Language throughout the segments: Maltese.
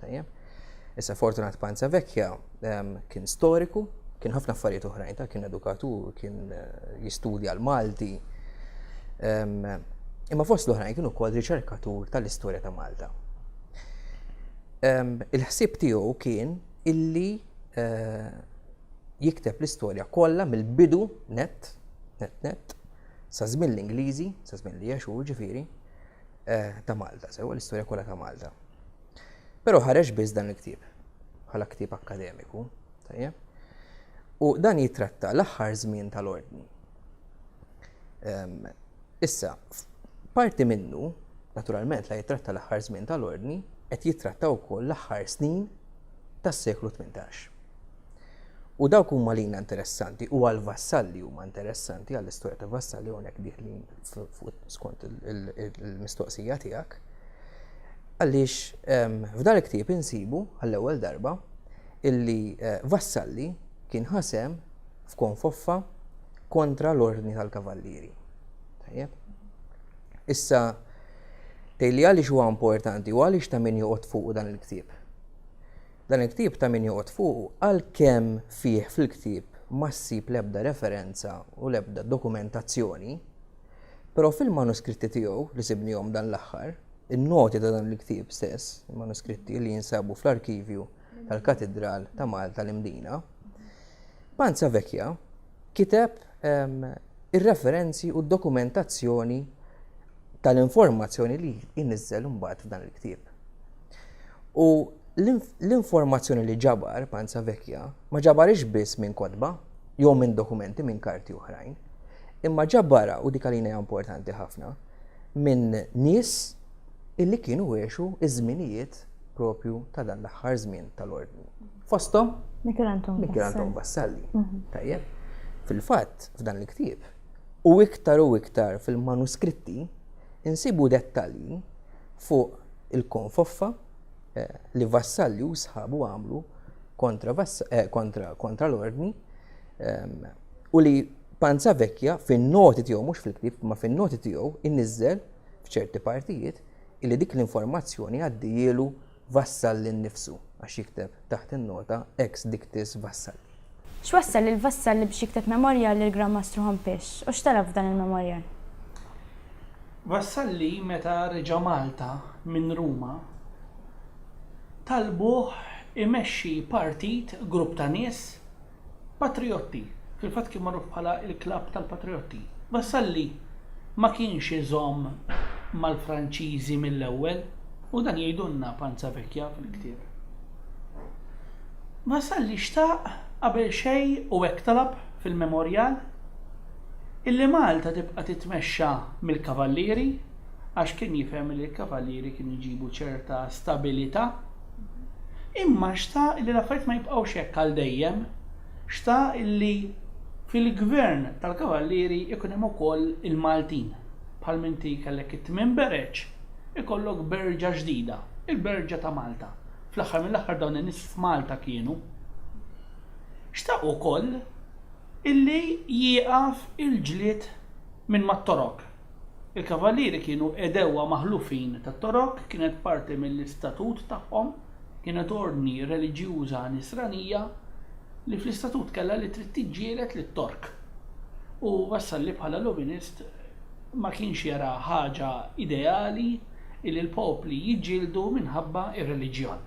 Tajjeb. Issa Fortunat Panza Vecchia ehm, kien storiku, kien ħafna affarijiet oħrajn ta' kien edukatur, kien eh, jistudja l-Malti. Ehm, imma fost l-oħrajn kien ukoll riċerkatur tal-istorja ta' Malta. Ehm, il-ħsieb tiegħu kien illi eh, jikteb l-istorja kollha mill-bidu net, net net, sa' żmien l-Ingliżi, sa' żmien li jaxu ġifieri, eh, ta' Malta, sewa l-istorja kollha ta' Malta. Però ħareġ biss dan il-ktieb bħala ktieb akkademiku, tajjeb? U dan jitratta l-aħħar żmien tal-ordni. Issa, parti minnu, naturalment la jitratta l-aħħar żmien tal-ordni, qed jitratta wkoll l-aħħar snin tas-seklu 18. U dawk huma lina interessanti u għal Vassalli huma interessanti għall istorja ta' Vassalli hawnhekk diħlin skont il-mistoqsija tiegħek. Għaliex ehm, f'dan il-ktieb insibu għall-ewwel darba illi eh, Vassalli kien ħasem f'konfoffa kontra l-ordni tal-kavallieri. Tajjeb. Issa, tejli għaliex huwa importanti u għaliex ta' min joqgħod fuq dan il-ktieb. Dan il-ktieb ta' min joqgħod fuqu għalkemm fih fil-ktieb ma ssib l-ebda referenza u l-ebda dokumentazzjoni, però fil-manuskritti tiegħu li sibnihom dan l-aħħar, in-noti ta' dan il-ktieb stess, il-manuskritti li jinsabu fl-arkivju tal-Katidral ta' Malta l-Imdina, Panza Vecchia, kiteb ir-referenzi u d-dokumentazzjoni tal-informazzjoni li jniżżel imbagħad f'dan il-ktieb. U l-informazzjoni li ġabar Panza Vekja ma ġabarix biss minn kotba jew minn dokumenti minn karti oħrajn, imma ġabarha u dik għalina importanti ħafna minn nies illi kienu għexu ż-żminijiet propju ta' dan l-aħħar żmien tal-Ordni. Fosthom Mikelanton Vassalli. Mhm. Tajjeb. Fil-fatt, f'dan il-ktieb, u iktar u iktar fil-manuskritti, insibu dettalji fuq il-konfoffa eh, li Vassalli u sħabu għamlu kontra, eh, kontra, kontra l-ordni ehm, u li Panza Vecchia fin-noti tiegħu mhux fil-ktieb ma fin-noti tiegħu inniżżel f'ċerti partijiet illi dik l-informazzjoni għaddiehielu Vassalli nnifsu għax jikteb taħt in-nota ex dictis Vassalli. X'wassal lil Vassalli biex jikteb memorjal lill-Gran Mastru Ħompiex u x'talab f'dan il-memorjal? Vassalli meta reġa' Malta minn Ruma talbuh imexxi partit, grupp ta' nies, Patriotti, fil-fatt kien magħruf bħala l-klabb tal-patriotti. Vassalli ma kienx iżomm mal-Franċiżi mill-ewwel u dan jgħidulna Panzavecchia fil-ktieb. Vassalli xtaq qabel xejn u hekk talab fil-memorjal, illi Malta tibqa' titmexxa mill-Kavallieri għax kien jifhem li l-Kavallieri kienu jġibu ċerta stabilità, Imma xtaq li l-affarijiet ma jibqgħux hekk għal dejjem. Xtaq li fil-Gvern tal-Kavallieri jkun hemm ukoll il-Maltin. Bħal m'inti kellek it-tmien bereġ, ikollok berġa ġdida, il-berġa ta' Malta. Fl-aħħar mill-aħħar dawn in-nies f'Malta kienu. Xtaq ukoll illi jieqaf il-ġlied minn mat-Torok. Il-Kavallieri kienu għedewwa maħlufin tat-Torok, kienet parti mill-istatut tagħhom, kienet ordni reliġjuża Nisranija li fl-istatut kellha li trid tiġġieled lit-Tork. U Vassalli bħala Lovinist ma kienx jara ħaġa ideali illi l-popli jiġġieldu minħabba r-reliġjon.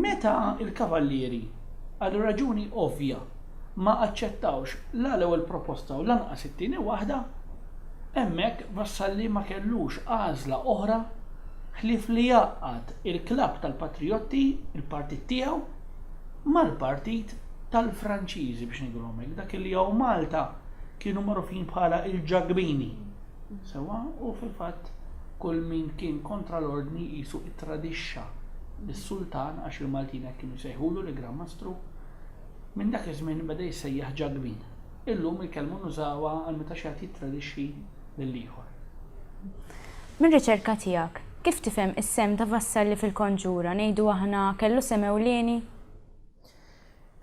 Meta l-Kavallieri, għal raġuni ovvja, ma aċċettawx la l-ewwel proposta u lanqas it-tieni waħda, hemmhekk Vassalli ma kellux għażla oħra ħlief li jgħaqqad il-Klabb tal-Patrijotti, il-partit tiegħu, mal-Partit tal-Franċiżi biex ngħidulhom hekk, dak li hawn Malta kienu magħrufin bħala l-Ġakbini. Sewwa, u fil-fatt kull min kien kontra l-Ordni qisu ttradixxa lis-Sultan għax il-Maltin hekk kienu jsejħulu l-Gran Mastru. Minn dak iż-żmien beda jissejjaħ Ġagbin. Illum il-kelma nużawha għal meta xi ħadd jittradixxi lil ieħor. Mir-riċerka tiegħek, kif tifhem is-sehem ta' Vassalli fil-konġura, ngħidu aħna kellu sehem ewlieni?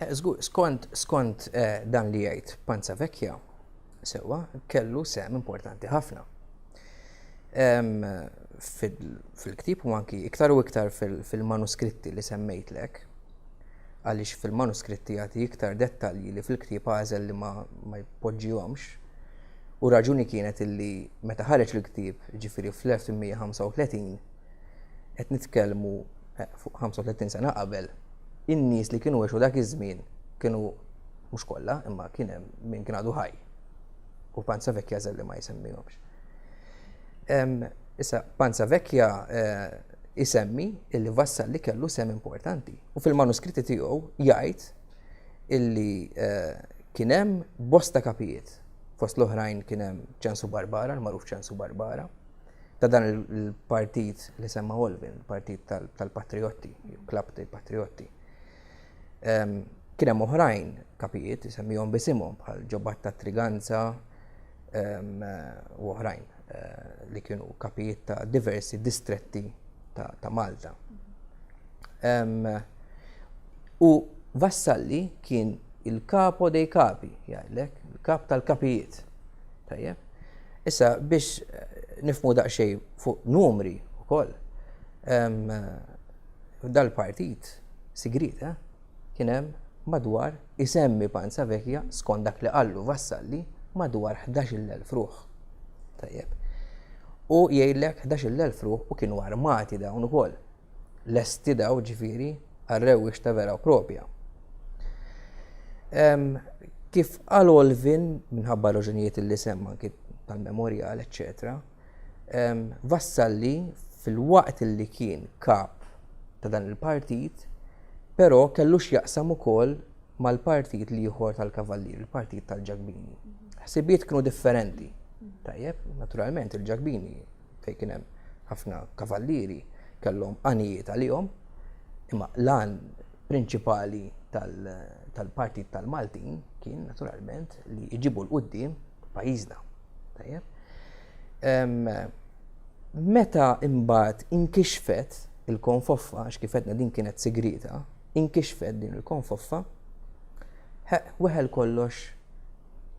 Żgur, skont, skont dan li jgħid Panzavecchia, sewwa, kellu sehem importanti ħafna. fil-ktib u anki iktar u iktar fil-manuskritti li semmejtlek, għaliex fil-manuskritti jagħti iktar dettalji li fil-ktib għażel li ma jpoġġihomx. U raġuni kienet illi meta ħareġ il-ktib, ġifiri fl-1935, qed nitkellmu eh, fuq 35 sena qabel, in-nies li kienu għexu dak iż-żmien kienu mhux kollha, imma kien hemm min kien għadu ħaj. u panza vekja zelli ma jsemmihomx. Issa, panza vekja jisemmi eh, illi vassal li kellu sem importanti. U fil-manuskritti tiegħu jgħid illi eh, kienem bosta kapijiet. Fost l-oħrajn kienem ċensu Barbara, l-maruf ċensu Barbara, ta' dan il-partit li semma Olvin, il-partit tal-patriotti, klab tal-patriotti. Kien hemm oħrajn kapijiet isemmihom bisimhom bħal ġobat ta' triganza u oħrajn eh, li kienu kapijiet ta' diversi distretti ta' Malta. U Vassalli kien il-kapo dei kapi, jgħidlek, il-kap tal-kapijiet. Tajjeb. Issa biex eh, nifmu daqsxejn fuq numri wkoll. F'dal-partit sigriet kien hemm madwar, isemmi Panza Vecchia, skont dak li qallu Vassalli, madwar ħdax-il elf ruħ. Tajjeb. U jgħidlek ħdax-il elf ruħ u kienu armati dawn ukoll. Lesti dawn ġifieri għar-rewwix ta' vera u propja. Kif qal Olvin, minħabba r-raġunijiet li semma anki tal-memorjal eċċetera, wassal li filwaqt li kien kap ta' dan il-partit, però kellu x'jaqsam ukoll mal-partit l-ieħor tal-Kavallieri, il-partit tal-Ġakbini. Ħsibijiet kienu differenti. Tajjeb, naturalment il-Ġakbini fejn kien hemm ħafna kavallieri kellhom għanijiet għalihom, imma l-għan prinċipali tal-partit tal-Maltin kien naturalment li jġibu l-qudiem pajjiżna. Meta imbagħad inkixfet il-konfoffa, għax kif qedna din kienet sigrieta, inkixfet din il-konfoffa, weħel kollox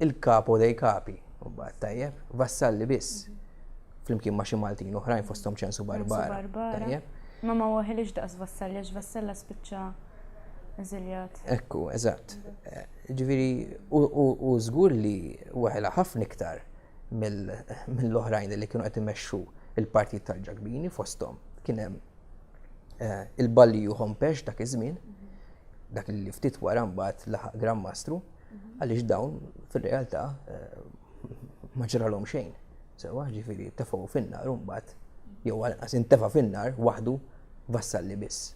il-kapo dej kapi, u bad tajjeb, vassalli biss, flimkien ma xi Maltin oħrajn fosthom ċensu barbara. Tajjeb. Ma ma waħilix daqs Vassalli, għax Vassalla spiċċa eżiljat. Ekku, eżatt. Jiġifieri hu żgur li weħilha ħafna iktar mill-oħrajn li kienu qed imexxu l-Partit tal-Ġakbini fosthom kien hemm il-Balliju Hompesch dak iż-żmien, dak li ftit wara mbagħad laħaq Gran Mastru, għaliex dawn fir-realtà ma ġralhom xejn. Sewwa, jiġifieri tefgħu fin-nar u mbagħad jew għall-inqas intefa' fin-nar waħdu Vassalli biss.